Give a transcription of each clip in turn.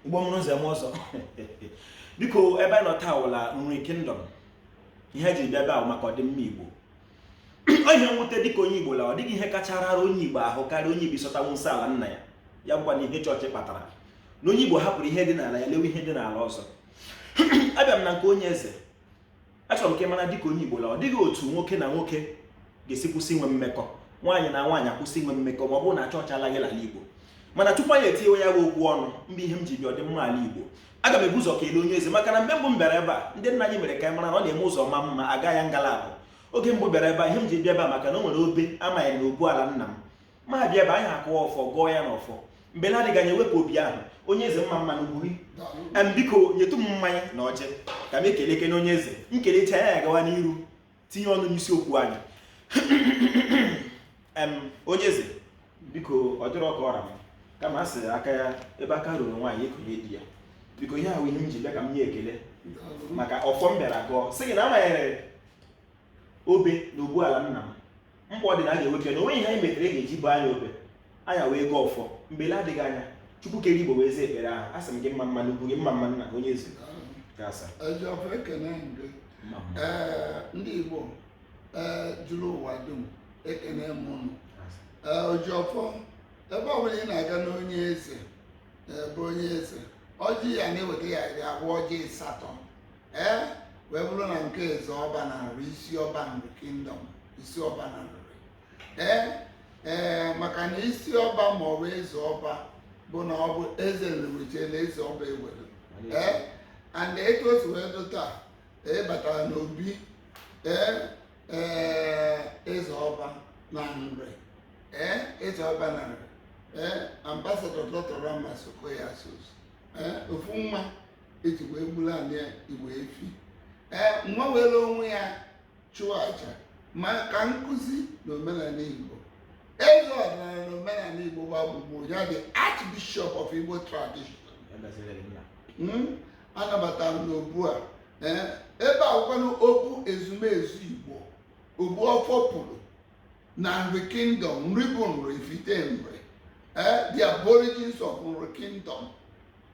igbo mụrụ nze mụọ ọzọ biko ebe a nọ taa wụla nri kingdom ihe m ji bịa ebe a wụ maka ọdịmma igbo ọ ihe nwute dịka onye igbo la ọ dịghị ihe kacha rara onye igbo ahụ karịa onye igbo ịsọtanwu nsọ ala nna ya ya bụkwanụ ihe chọọchị kpatara na onye igbo hapụrụ ihe dị n'ala ya lewe ihe dị n'ala ọzọ abịa m na nke onye eze achọrọ m ka ị mara dịka onye Igbo la ọ dịghị otu nwoke na nwoke ga-esi kwụsị inwe mmekọ nwaanyị na nwaanyị akwụsị inwe mmekọ ma ọ bụrụ na chọọchị alaghị ala Igbo mana tupu anyị etinye ya bụ okwu ọnụ mgbe ihe m ji bịa ọdịmma ala Igbo aga m ebu ụzọ kelee onye eze maka na mgbe mbụ m bịara ebe a ndị nna anyị mere ka anyị mara na ọ na-eme ụzọ ma mma a gaa ya nga la abụọ oge mbụ m bịara ebe a ihe m ji bịa ebe a maka na o nwere obe amaghị na obu ala nna m m abịa ebe a anyị akụwa ọfọ gọọ ya n'ọfọ mgbe na-adịghị anya e wepụ obe ahụ onye eze mma mma n'ugwu gị em biko nyetụ m mmanya na ọjị ka m kelee ekene onye eze m kelecha ya anyị agawa n'iru tinye ọnụ n'isi okwu anyị em onye eze biko ọ dịrọ ka ọ ra m kama a sịrị aka ya ebe aka ruru nwaanyị ekonye di ya biko ihe a wụ ihe m ji bịa ka m nye ekele maka ọfọ m bịara gọọ sị gị na a manyere obe na obu ala nna m mkpa ọ dị na a ga-ewepụ ya na o nweghị ihe anyị metere e ga-eji bo anyị obe anyị wee gọọ ọfọ mgbe la-adịghị anya chukwu kere igbo wee zaa ekpere ahụ asị m gị mma mma n'ugwu gị mma mma nna onye eze ga-asa ojiọfọ ekene m mma mma ee ndị igbo ee juru ụwa dum ekene m ụnụ ga-asa. ee ojiọfọ ebe ọbụla ị na-aga n'onye eze ee, bụ onye eze ọjị ya na-eweta ya iri abụọ ọjị ịsatọ ee wee bụrụ na nke eze ọba na nri isi ọba nri kingdom isi ọba na nri ee ee maka na isi ọba ma ọ bụ eze ọba bụ na ọ bụ eze nri wechala eze ọba ewere ee and etu o si wee dụ taa ee batara n'obi ee ee eze ọba na nri ee eze ọba na nri ee ambassador doctor ramas okoye asuzu ee ofu nwa eji wee gburu anị ya igwe efi ee nwa were onwe ya chụọ aja maka nkụzi na omenanị igbo eze ọdịnala na omenanị igbo gbaa gburugburu ya the archbishop of igbo tradition Hmm? anabatara m n'obu a ee ebe a wụkwanụ obu ezumezu igbo obu ọfọ pụrụ na nri kingdom nri bụ nri ifite nri ee the aborigines of nri kingdom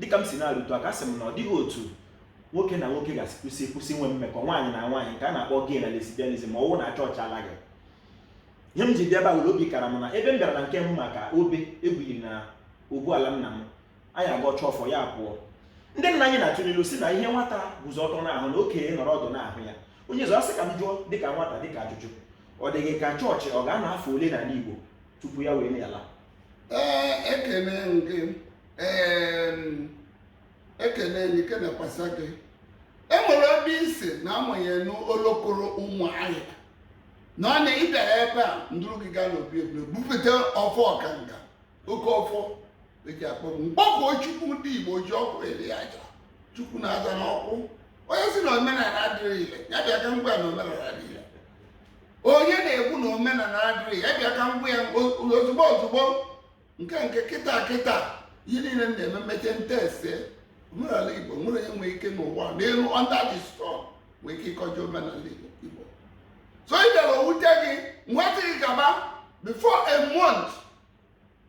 dịka m si na-arụtụ aka sị m na ọ dịghị otu nwoke na nwoke ga-esi kwụsị inwe mmekọ nwaanyị na nwaanyị nke a na-akpọ gay na lesbianism ma ọ wụ na chọọchị alaghị ihe m ji bịa ebe a wụ la obi kara m na ebe m bịara na nke mbụ maka obe egwughiri na obu ala nna m anyị agọcha ọfọ ya pụọ ndị nna anyị na-atụ n'ilu sị na ihe nwata guzo ọtọ na-ahụ na okenye nọrọ ọdụ na-ahụ ya onye eze asị ka m jụọ dịka nwata dịka ajụjụ ọ dị gị ka chọọchị ọ ga-anọ afọ ole n'ala Igbo tupu ya wee na-ala ee ekene nke ekene gị kenekwasa gị enwere ebe isi na amụnye n'olokoro ụmụ ahịa na ọ na ịbịa ebe a m duru gị gaa n'obi ebule bupụta ọfọ ọkanga oke ọfọ eji akpọ mkpọku chukwu ndị igbo ji ọkụ eri aja chukwu na-aza n'ọkụ onye si na omenala adịrọ ile ya bịa ka m gwa na omenala dị ile onye na-ekwu na omenala adịrọ ya bịa ka m gwa ya ozugbo ozugbo nke nke kịta kịta ihe niile m na-eme mmeche ntese omenala igbo nwere onye nwee ike n'ụwa n'elu under the sun nwee ike ịkọjọ omenala igbo so ị bịara owute gị nweta gị gaba before a month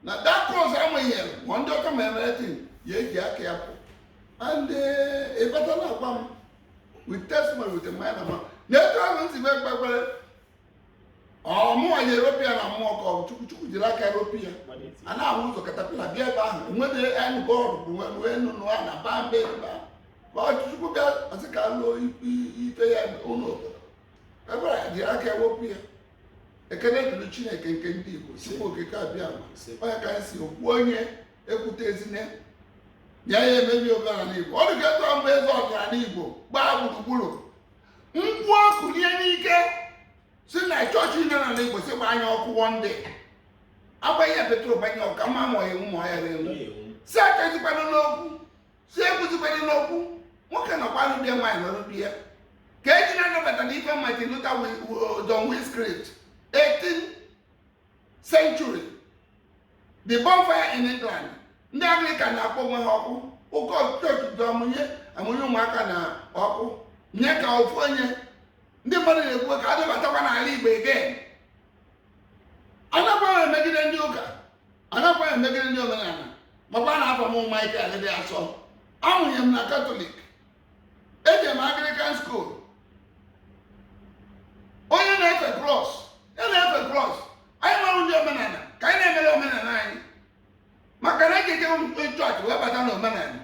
na that cause amanyere ma ndị ọka ma everything ya eji aka ya pụ and eh, ịbata na agwa m with testimony with a minor man na etu ahụ m si ekpe ekpere ọmụwa nyere opi ya na mmụọ ka ọ chukwu chukwu jiri aka ropi ya a na-ahụ ụzọ caterpillar bịa ebe ahụ enwere enu bọọlụ bụ nwere enu nụa na ba mbe ba ka ọ chukwu bịa ọsị ka lụọ ife ya ụlọ obodo ebere ya jiri aka ewepụ ya ekene dịrị chineke nke ndị igbo si okike abịama onye ka anyị si okwu onye ekwutezi na ya ya emebi omenala igbo ọ dịka etu mgbe eze ọdịnala igbo gbaa gburugburu mkpu ọkụ na-ere ike si na chọọchị nọ na igbo si gbanye ọkụ one day agbanye ya petrol gbanye ọka ma ma ewu ma ya ewu si achọzikwana n'okwu si ekwuzikwana n'okwu nwoke nọkwanụ bịa nwaanyị nọrụ bịa ka eji na-anabata na ife martin luther john wycliffe 18th century the bonfire in England ndị Anglican na-akpọ onwe ha ọkụ ụkọ chọọchị ji amụnye amụnye ụmụaka na ọkụ nye ka ofu onye ndị mmadụ na-ekwu ka a dọbatakwa n'ala Igbo again anakwaghị emegide ndị ụka anakwaghị emegide ndị omenala makwa na afa m Michael dị asọ amụnye m na katọlik eje m anglican school onye na-efe cross ya na-efe cross anyị nwere ndị omenala ka anyị na-emere omenala anyị maka na ekeke chọọchị wee bata na omenala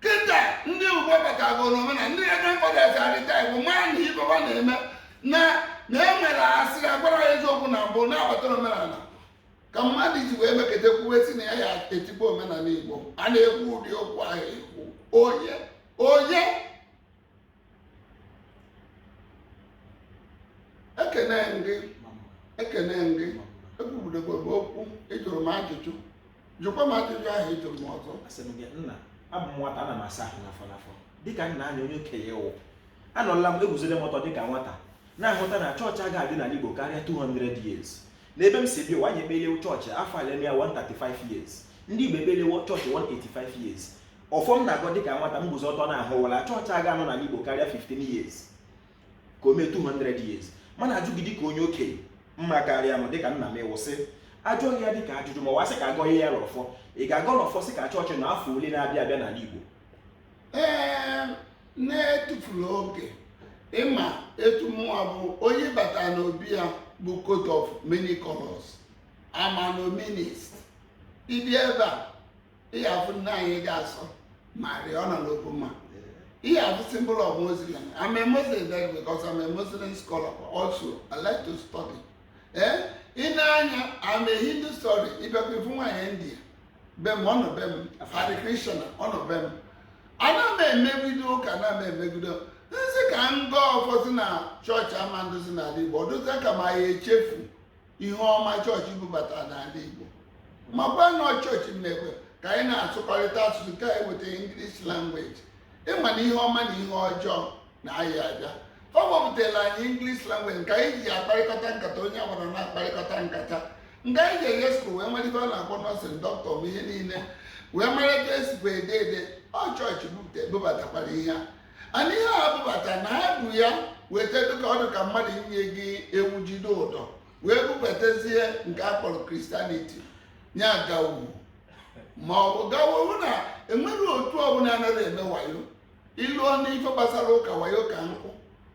kịta ndị igbo batago na omenala ndị reverend fathers arịta igbo maa na ife ha na-eme na na e nwere asịrị agwara ya eziokwu na mbụ na-abata omenala ka mmadụ ji wee meketa kwuwe si na ya ya etigbu omenala igbo a na-ekwu ụdị okwu ahụ ekwu onye onye ekene gị ekene gị ekwubudebe m okwu ịjụrụ m ajụjụ jụkwa m ajụjụ ahụ ịjụrụ m ọzọ asị m gị nna abụ m nwata ana m asa ahụ n'afọ n'afọ dịka nna anya onye okenye wụ anọla m eguzoro m ọtọ dịka nwata na-ahụta na chọọchị agaghị adị n'ala igbo karịa 200 years n'ebe m si bịa ụwa anyị ekpelewo chọọchị afọ a na-eme ya 135 years ndị Igbo ekpelewo chọọchị 185 years ọfọ m na-agọ dịka nwata m guzo ọtọ na-ahụ wụ na chọọchị aga anọ n'ala Igbo karịa 15 years ka o mee 200 years m na-ajụ gị dịka onye okenye ma karịa m dịka nna m ọ wụ sị a jụọ gị ya dịka ajụjụ ma ọ wụ a sị ka a gọọ ya n'ọfọ ị ga-agọ n'ọfọ sị ka chọọchị naa afọ ole na-abịa abịa n'ala Igbo ee n'etufurọ oge ịma etu mụnwa bụ onye bata n'obi ya bụ coat of many colors i'm an omnist ị bịa ebe a ị ga-afụ nne anyị dị asọ Maria ọ nọ n'okwu m ị ga-afụ symbol of muslim i'm a muslim then because i'm a muslim scholar also i like to study ee i nee anya i'm a hindu study ị bịakwa ị fụ nwaanyị india be m ọ nọ be m Hare Krishna ọ nọ be m ana m emegide ụka ana m emegidezi ka m gọọ ọfọzi na chọọchị ama anọzi n'ala Igbo ọ dịzie ka m ya-echefu ihe ọma chọọchị bubata n'ala Igbo makwa na chọọchị mekwa ka anyị na-asụkọrịta asụsụ nke anyị weta English language ịma na ihe ọma na ihe ọjọọ na-ayị abịa o bubatara anyị English language nke anyị ji akparịkọta nkata onye ọbụla na-akparịkọta nkata nke anyị ji eje skul wee mara ife a na-akpọ nọọsịn dọkịta ma ihe niile wee mara etu e sikwa ede ede ọ chọọchị bubatakwara ihe a mana ihe ha bubata na ha bu ya weta dịka ọ dị ka mmadụ inye gị ewu jide ụdọ wee bubatazie nke a kpọrọ kristianiti ya gawu ma ọ bụ gawowu na enweghị otu ọbụla anaghị eme wayo i luo n'ife gbasara ụka wayo ka nkụ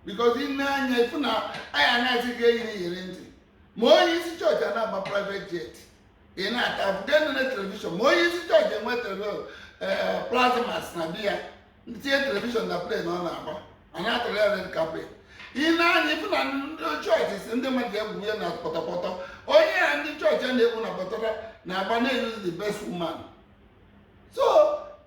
because i nee anya ị fụ na a na-asị gị eyile iyeri ntị ma onye isi chọọchị a na-agba private jet a na-asị enene telivishọn ma onye isi chọọchị enwe telivishọn ee plasmas na be ya tinye telivishọn na plen ọ na-agba a na-atụrụ ya red carpet i nee anya ị fụ na ndị chọọchị sị ndị mmadụ egwu ya na pọtọpọtọ onye ya ndị chọọchị a na-egwu na pọtọpọtọ na-agba na-eyizi the best woman so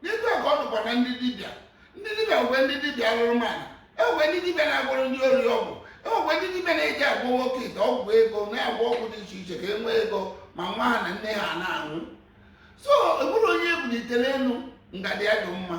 n'etu a ka ọ dụkwa na ndị dibịa ndị dibịa nwee ndị dibịa alụrụ mana enwe ndị dibịa na-agwọrọ ndị ori ọgwụ enwekwe ndị dibịa na-eji agwọ oke ite ọgwụ ego na-agwọ ọgwụ dị iche iche ka e nwee ego ma nwa ha na nne ha na-anwụ so enwerọ onye e bulitere elu ngada ya dị mma